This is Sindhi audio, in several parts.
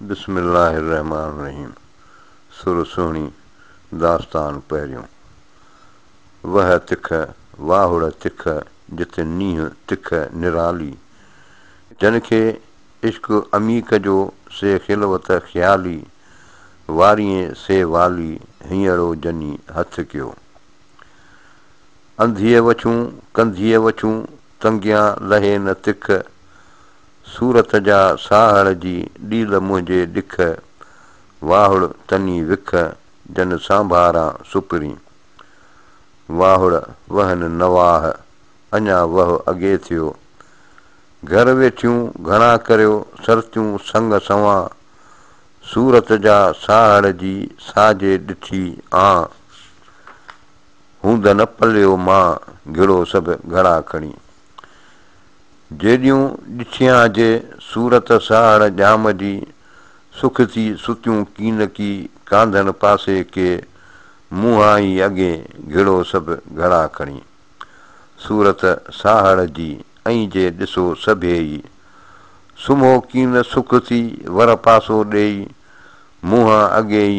بسم الله الرحمٰن الرحيم سر سهڻي داستان پهريون وهه تک واهڙ تک جت نينهن تک نرالي جن کي عشق عميق جو سي خلوت خيالي واريين سي والي هينئڙو جني هٿ ڪيو انڌيء وڇون ڪنڌيء وڇون تنگيان لهي نه تک صورت جا ساهڙ جي ڏيل منهنجي ڏک، واهڙ تني وک جن سانڀاران سپرين. واهڙ وهن نواح اڃا وهه اڳي ٿيو. گهر ويٺيون گهڻا ڪريو سرتيون سڱ سنوان. صورت جا ساهڙ جي ساجي ڏٺي آن. هوند نه پليو مان گهڙو سڀ گهڙا کڻي. جيڏيون ڏٺيان جي صورت ساهڙ ڄام جي سک ٿي ستيون ڪينڪي ڪانڌڻ پاسي ڪي منهان ئي اڳي گهڙو سڀ گهڙا کڻي صورت ساهڙ جي ائين جي ڏسو سڀيئي سمهو ڪين سک ٿي ور پاسو ڏيئي منهان اڳي ئي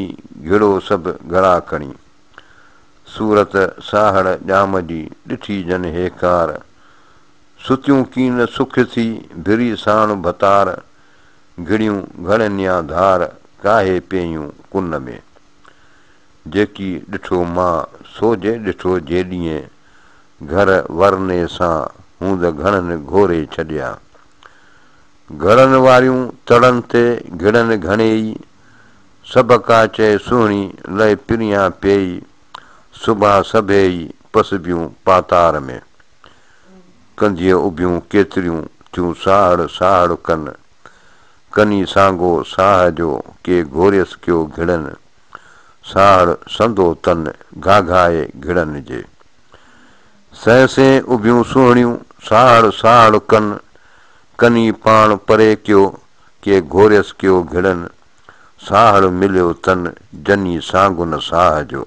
گهڙو سڀ گهڙا کڻي صورت ساهڙ ڄام جي ڏٺي جن هيڪار ستيون ڪين سک ٿي، ڀري ساڻ ڀتار، گهڙيون گهڙ نيا ڌار، ڪاهي پيئيون ڪن ۾. جيڪي ڏٺو مان، سو جي ڏٺو جي ڏينهن، گهر ورني سان، هوند گهڻن گهوري ڇڏيا. گهڙن واريون تڙن تي، گهڙن گهڻي ئي، سڀ ڪا چئي سهڻي، لئه پريان پيئي، سڀا سڀيئي پسبيون پاتار ۾. ڪنڌيء اڀيون ڪيتريون ٿيون ساهڙ ساهڙ ڪن. ڪني سانگو ساهه جو ڪي گهوريس ڪيو گهڙن. ساهڙ سندو تن گهاگهائي گهڙن جي. سين سين اڀيون سهڻيون ساهڙ ساهڙ ڪن. ڪني پاڻ پري ڪيو ڪي گهوريس ڪيو گهڙن. ساهڙ مليو تن جني سانگن ساهه جو.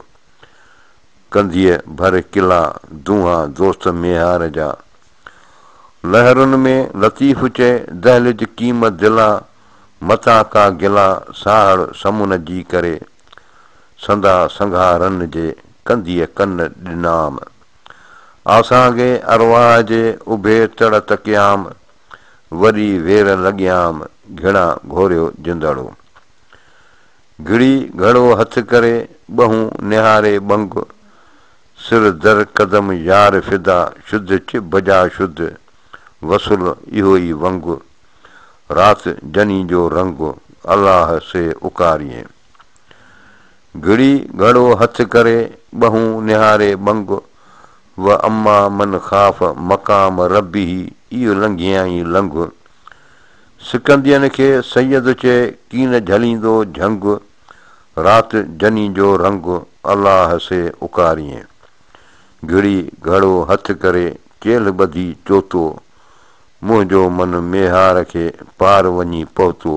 ڪنڌيء ڀر ڪلا دونها دوست ميهار جا. لهرن ۾ لطيف چئي دهلج ڪيم دلا متاع ڪا گلا ساهڙ سمن جي ڪري. سندا سنگها رن جي ڪنڌيء ڪن ڏنام. آسانگي ارواح جي اڀي تڙ تڪيام. وڏي وير لڳيام گهڻا گهوريو جندڙو. گهڙي گهڙو هٿ ڪري، ٻهون نهاري ٻنگ، سر در قدم يار فدا، شد چ بجا شد، وصل اهو ئي ونگ، رات جني جو رنگ، الله سي اڪاريين. گهڙي گهڙو هٿ ڪري، ٻهون نهاري ٻنگ، و اما من خاف مقام ربه، اي لنگهيائين لنگهه، سڪندين کي سيد چئي ڪين جهليندو جهنگ، رات جني جو رنگ الله سي اڪاريين. گهڙي گهڙو هٿ ڪري چيلهه ٻڌي چوتو، منهنجو من ميهار کي پار وڃي پهتو،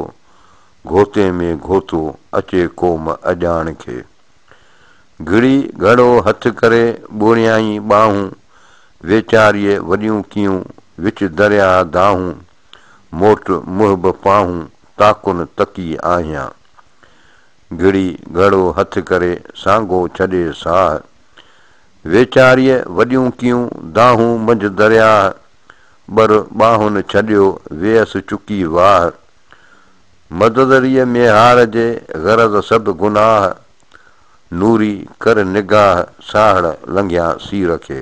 گهوتي ۾ گهوتو اچي قوم اڄاڻ کي. گهڙي گهڙو هٿ ڪري ٻوڙيائين ٻانهون، ويچاريء وڏيون ڪيون وچ درياهه دانهون. موٽ محب پاهون تاڪن تڪي آهيان. گهڙي گهڙو هٿ ڪري سانگو ڇڏي ساهه. ويچاريء وڏيون ڪيون دانهون منجهه درياهه. ٻر ٻانهن ڇڏيو ويس چڪي واهه. مددريء ميهار جي غرض سڀ گناهه. نوري ڪر نگاهه ساهڙ لنگهيان سير کي.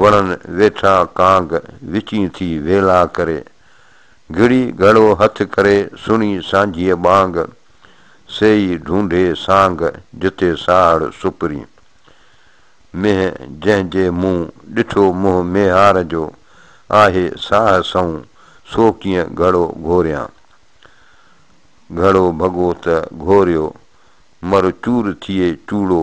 وڻن ويٺا ڪانگ وچين ٿي ويلا ڪري. گهڙي گهڙو هٿ ڪري سڻي سانجهيء ٻانگ. سيئي ڍونڍي سانگ جتي ساهڙ سپرين. مينهن جنهن جي مون ڏٺو منهن ميهار جو. آهي ساهه سنئون سو ڪيئن گهڙو گهوريان. گهڙو ڀڳو ته گهوريو مر چور ٿئي چوڙو.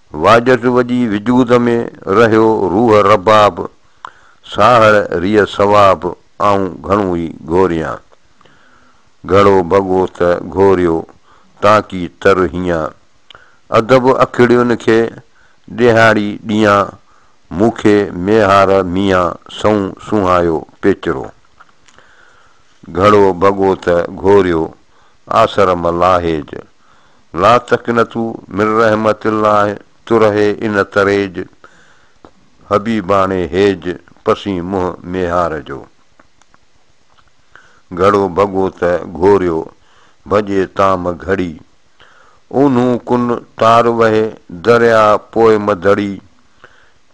واجهٽ وڄي وجود ۾، رهيو روح رباب، ساهڙ ريء ثواب، آئون گهڻو ئي گهوريان. گهڙو ڀڳو ته گهوريو، تانڪي تر هيان. ادب اکڙين کي، ڏيهاڙي ڏيان، مون کي ميهار ميان، سنئون سونهايو پيچرو. گهڙو ڀڳو ته گهوريو، آسر ملاحيج، لا تقنطو من رحمت الله ترهي ان تريج حبيباڻي هيج پسين منهن ميهار جو گهڙو ڀڳو ته گهوريو ڀڄي تام گهڙي اونهون ڪن تار وهي درياء پوء مڌڙي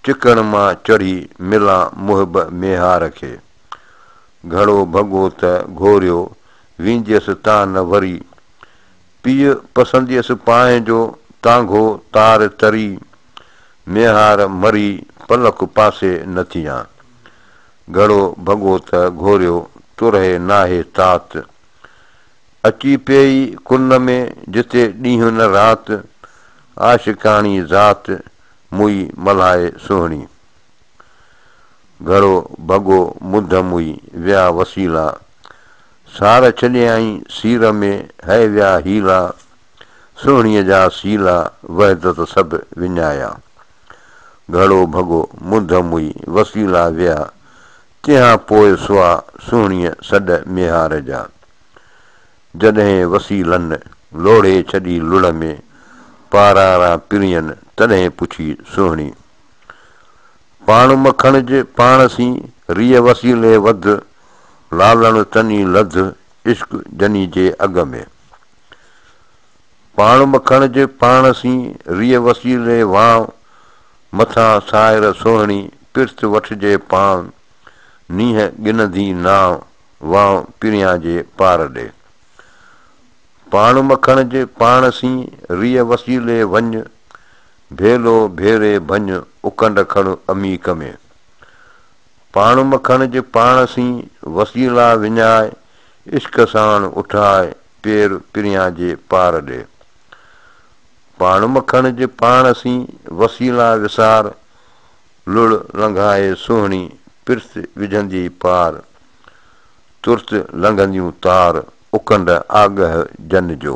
چڪڻ مان چڙهي ملان محب ميهار کي گهڙو ڀڳو ته گهوريو وينجيس تان نه وري. پيء پسنديس پانهين جو تانگهو تار تري. ميهار مري پلڪ پاسي نه ٿيان. گهڙو ڀڳو ته گهوريو ترهي ناهي تات. اچي پيئي ڪن ۾ جتي ڏينهن نه رات. عاشقاڻي ذات موئي ملهائي سهڻي. گهرو ڀڳو مڌ موئي ويا وسيلا، سار ڇڏيائين سير ۾ هئي ويا حيلا، سهڻيء جا سيلا وحدت سڀ وڃايا، گهرو ڀڳو مڌ موئي وسيلا ويا، تنهان پوء سوا سهڻيء سڏ ميهار جا، جڏهن وسيلن لوڙهي ڇڏي لڙ ۾ پاراران پرين تڏهن پڇي سهڻي. پاڻ مکڻ جي پاڻ سين، ريء وسيلي وڌ، لالڻ تني لڌ، عشق جني جي اڳ ۾. پاڻ مکڻ جي پاڻ سين، ريء وسيلي وان، مٿان سائر سهڻي، پرت وٺجي پان، نينهن ڳنڌي نان، وان پريان جي پار ڏي. پاڻ مکڻ جي پاڻ سين، ريء وسيلي وڃ، ڀيلو ڀيري ڀڃ اڪنڊ کڻ عميق ۾. پاڻ مکڻ جي پاڻ سين وسيلا وڃاء عشق ساڻ اٺاء پير پريان جي پار ڏي. پاڻ مکڻ جي پاڻ سين وسيلا وسار لڙ لنگهائي سهڻي پرت وجهندي پار. ترت لنگهنديون تار اڪنڊ آڳهه جن جو.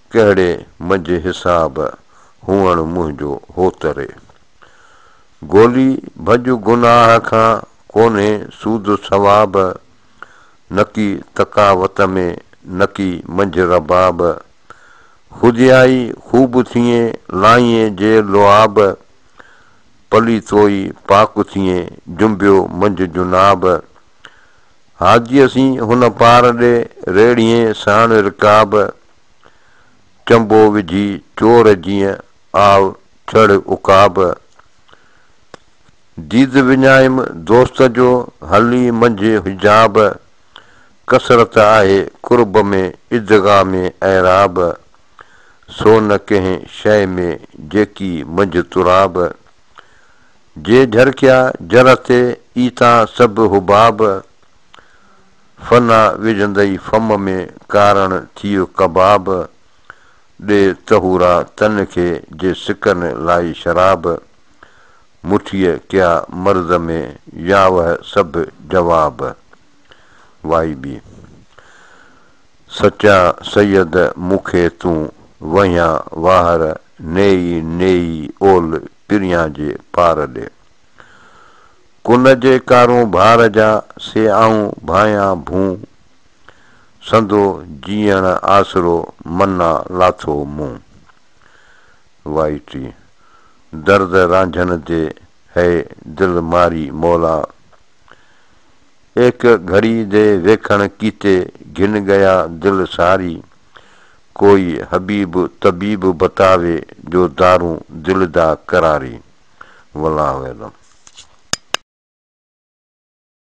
ڪهڙي منجهه حساب هئڻ منهنجو هوتري. گولي ڀڄ گناهه کان ڪونهي سود ثواب. نڪي تقاوت ۾ نڪي منجهه رباب. خوديائي خوب ٿئين لائينء جي لعاب. پليتوئي پاڪ ٿئين جنبيو منجهه جناب. هاديء سين هن پار ڏي ريڙهين ساڻ رڪاب. چنبو وجهي چور جيئن آء چڙ عقاب. ديد وڃايم دوست جو هلي منجهه حجاب. ڪثرت آهي قرب ۾ ادغام اعراب. سو نه ڪنهن شيء ۾ جيڪي منجهه تراب. جي جهرڪيا جر تي ايتا سڀ حباب. فنا وجهندئي فم ۾ ڪارڻ ٿيو ڪباب ڏي طهورا تن کي جي سڪن لائي شراب مٺيء ڪيا مرض ۾ ياوه سڀ جواب وائي بي سچا سيد مون کي تون وهيان واهر نيئي نيئي اول پريان جي پار ڏي. ڪن جي ڪارون ڀار جا، سي آئون ڀانئيان ڀون. سندو جيئڻ آسرو، منا لاٿو مون. وائي ٽي. درد رانجهن دي، هيء دل ماري مولا. ايڪ گهڙي دي ويکڻ ڪيتي، گهن ڳيا دل ساري. ڪوئي حبيب طبيب بتاوي، جو دارون دل دا قراري. والله اعلم.